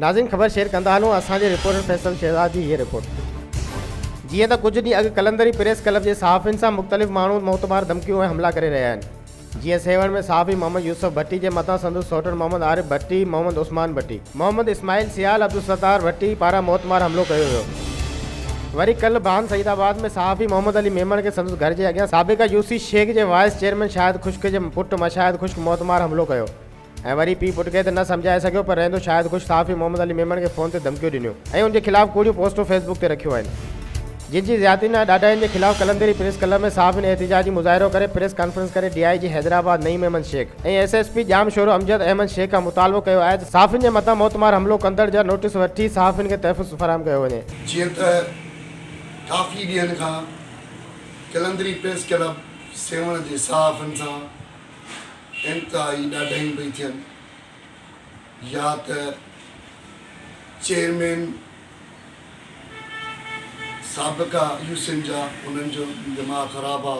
ناظرين خبر شيئر ڪندا هلون اسان جي رپورٽر فيصل شهزاد جي هيء رپورٽ جيئن ته ڪجهه ڏينهن اڳ قلندري پريس ڪلب جي صحافين سان مختلف ماڻهو معتبار ڌمڪيون ۽ حملا ڪري رهيا آهن جيئن سيوهڻ ۾ صحافي محمد يوسف ڀٽي جي مٿان سندس سئوٽر محمد عارف ڀٽي محمد عثمان ڀٽي محمد اسماعيل سيال عبدالستار ڀٽي پاران موتمار حملو ڪيو ويو. وري ڪلهه بان سعيد آباد ۾ صحافي محمد علي ميمڻ کي سندس گهر جي اڳيان سابقه يو سي شيخ جي وائيس چيئرمين شاهد خشڪ جي پٽ مشاهد خشڪ موتمار حملو ڪيو ۽ وري پيء پٽ کي ته نه سمجهائي سگهيو پر رهندو شاهد خشڪ صحافي محمد علي ميمڻ کي فون تي ڌمڪيون ڏنيون ۽ ان جي خلاف ڪوڙيون پوسٽون فيسبڪ تي رکيون آهن. جج جي زيادتين ۽ ڏاڍاين جي خلاف قلندري پريس ڪلب ۾ صحافين احتجاجي مظاهرو ڪري پريس ڪانفرنس ڪري D I G Hyderabad Naeem Ahmed Shaikh ۽ S S P Jamshoro Amjad Ahmed Shaikh کان مطالبو ڪيو آهي ته صحافين جي مٿان موتمار حملو ڪندڙ جا نوٽيس وٺي صحافين کي تحفظ فراهم ڪيو وڃي. جيئن ته ڪافي ڏينهن کان قلندري پريس ڪلب سيوهڻ جي صحافين سان انتهائي ڏاڍايون پئي ٿين. يا ته چيئرمين سابقه يو سين جا انهن جو دماغ خراب آ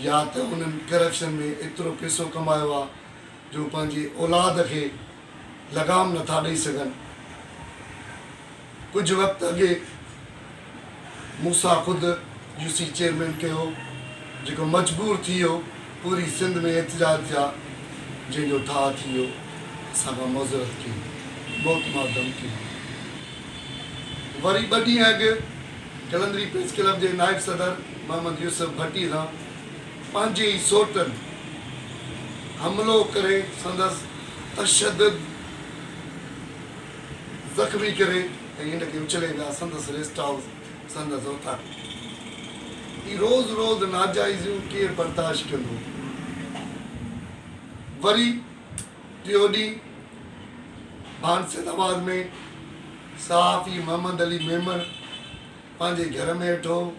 يا ته انهن ڪرپشن ۾ ايترو پيسو ڪمايو آ جو پنهنجي اولاد کي لغام نٿا ڏئي سگهن. ڪجهه وقت اڳي موسيٰ خود يو سي چيئرمين ڪيو هو جيڪو مجبور ٿي ويو پوري سنڌ ۾ احتجاج ٿيا جنهن جو ٺاهه ٿي ويو اسان کان معذرت ڪئي موت مار ڌمڪي ڏني وري ٻه ڏينهن اڳ جلندري پريس ڪلب جي نائب صدر محمد يوسف ڀٽي سان پنهنجي ئي سوٽن حملو ڪري سندس تشدد زخمي ڪري ۽ هن کي اڇلي ڏا سندس ريسٽ هائوس سندس اوطاق ۾ اي روز روز ناجائزيون ڪير برداشت ڪندو وري ٽيو ڏينهن ڀانسيد آباد ۾ صحافي محمد علي ميمڻ پنهنجي گهر ۾ ويٺو هو.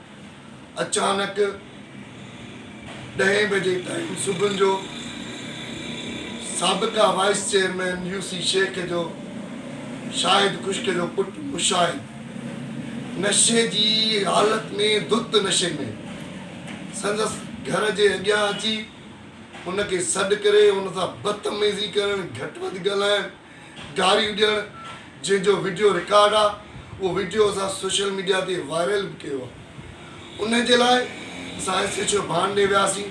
اچانڪ ڏهين بجي ٽائيم صبحن جو سابقه vice chairman U C Shaikh جو شاهد خشڪ جو پٽ مشاهد نشي جي حالت ۾ ڌت نشي ۾ سندس گهر جي اڳيان اچي ان کي سڏ ڪري ان سان بدتميزي ڪرڻ، گهٽ وڌ ڳالهائڻ، گاريون ڏيڻ جنهن جو وڊيو رڪارڊ آهي اهو وڊيو اسان سوشل ميڊيا تي وائرل به ڪيو آهي ان جي لاء اسان ايس ايڇ او ڀان ڏي وياسين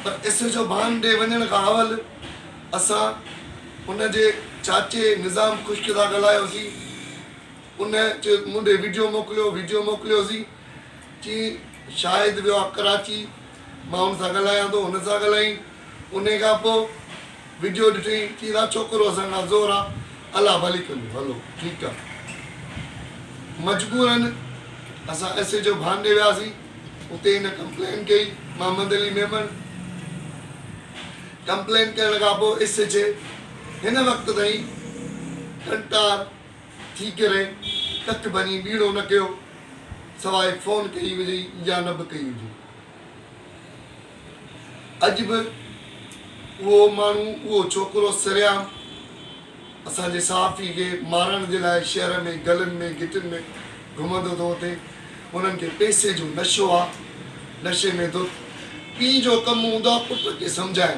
پر ايس ايڇ او ڀان ڏي وڃڻ کان اول اسان ان جي چاچي نظام خشڪ سان ڳالهايوسين ان چيو مون ڏي وڊيو موڪليو وڊيو موڪليوسين چي شاهد ويو آهي ڪراچي مان ان سان ڳالهايان ٿو هن سان ڳالهائين انهي کان پوء وڊيو ڏٺئي چيس ها ڇوڪرو اسان کان زور آ الله ڀلي ڪندو هلو ٺيڪ آ مجبورا اسان ايس ايچ او ڀانڊي وياسي اتي هن ڪمپلين ڪئي محمد علي ميمڻ ڪمپلين ڪرڻ کان پوء ايس ايچ اي هن وقت تائين ڪنٽار ٿي ڪري ڪک ڀڃي ٻيڻو نه ڪيو سواء فون ڪئي هجئي يا نه به ڪئي هجئي. اڄ به اهو ماڻهو، اهو ڇوڪرو سرعام اسان جي صحافي کي مارڻ جي لاء شهر ۾ گلين ۾ گهٽين ۾ گهمندو ٿو وتي انهن کي پئسي جو نشو آ نشي ۾ ڌت پيء جو ڪم هوندو آ پٽ کي سمجهائڻ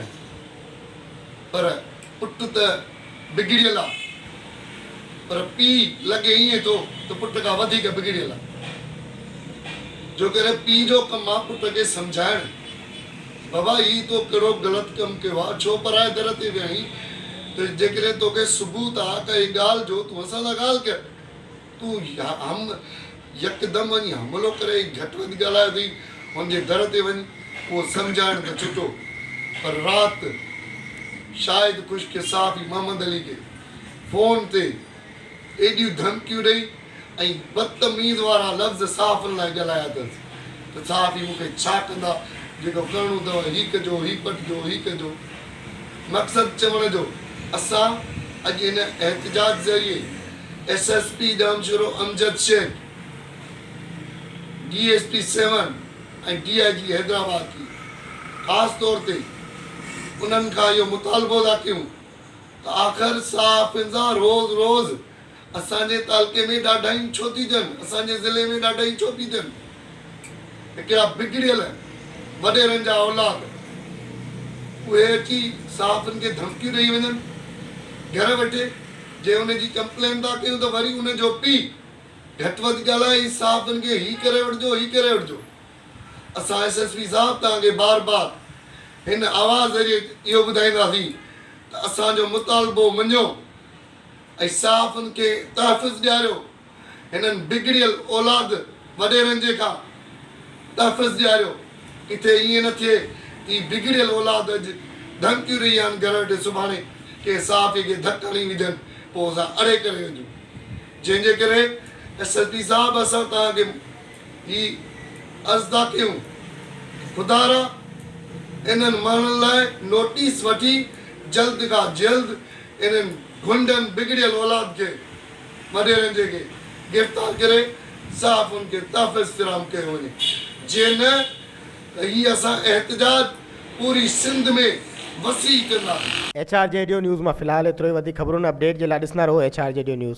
پر پٽ ته بگڙيل آ پر پيء لڳي ائين ٿو ته پٽ کان وڌيڪ بگڙيل آ. جو ڪري پيء جو ڪم آ پٽ کي سمجهائڻ، بابا هي تو ڪهڙو غلط ڪم ڪيو آ، ڇو پرائي در تي ويا آهين ته جيڪڏهن توکي ثبوت آ ڪا هي ڳالهه جو تون اسان سان ڳالهه ڪر. تون هم يڪدم وڃي حملو ڪري گهٽ وڌ ڳالهايو اٿئي، هن جي در تي وڃ اهو سمجهائڻ ته ڇٽو پر رات شاهد خشڪ صحافي محمد علي کي فون تي ايڏيون ڌمڪيون ڏئي ۽ بدتميز وارا لفظ صحافن لاء ڳالهايا اٿس ته صحافي مون کي ڇا ڪندا جيڪو ڪرڻو اٿئو هي ڪجو هي پٽجو هي ڪجو مقصد چوڻ جو اسان اڄ هن احتجاج ذريعي S S P Jamshoro Amjad Shaikh, D S P Sehwan ۽ D I G Hyderabad ٿي خاص طور تي انهن کان اهو مطالبو ٿا ڪيون ته آخر صحافين سان روز روز اسان جي تعلقي ۾ ڏاڍايون ڇو ٿي ٿين، اسان جي ضلعي ۾ ڏاڍايون ڇو ٿي ٿين. هڪڙا بگڙيل وڏيرن جا اولاد، اهي اچي صحافين کي ڌمڪيون ڏئي وڃن، گهر وٺي جي ان جي ڪمپلين ٿا ڪيون ته وري ان جو پيء گهٽ وڌ ڳالهائي صحافين کي هي ڪري وٺجو هي ڪري وٺجو. اسان ايس ايس پي صاحب توهان کي بار بار هن آواز ذريعي اهو ٻڌائينداسين ته اسان جو مطالبو مڃيو ۽ صحافين کي تحفظ ڏياريو. هنن بگڙيل اولاد وڏيرن جي کان تحفظ ڏياريو. ڪٿي ائين نه ٿئي ته هي بگڙيل اولاد اڄ ڌمڪيون ڏئي يا گهر وٺي سڀاڻي ڪنهن صحافي کي ڌڪ هڻي وجهن پوء اسان اڙي ڪري وجهون. جنهن جي ڪري ايس ايس پي صاحب اسان توهان کي هي عرض ٿا ڪيون خدارا انهن ماڻهن لاء نوٽيس وٺي جلد کان جلد انهن گهنڊن بگڙيل اولاد کي مڊيرنجي کي گرفتار ڪري صحافين کي تحفظ فراهم ڪيو وڃي جي نه ته هي اسان احتجاج پوري سنڌ ۾ وسيع ڪنداسين. ايڇ آر جي ڊيو نيوز مان في الحال ايترو ئي وڌيڪ خبرون ۽ اپ ڊيٽ جي لا ڏسندا رهو ايڇ آر جي ڊيو نيوز.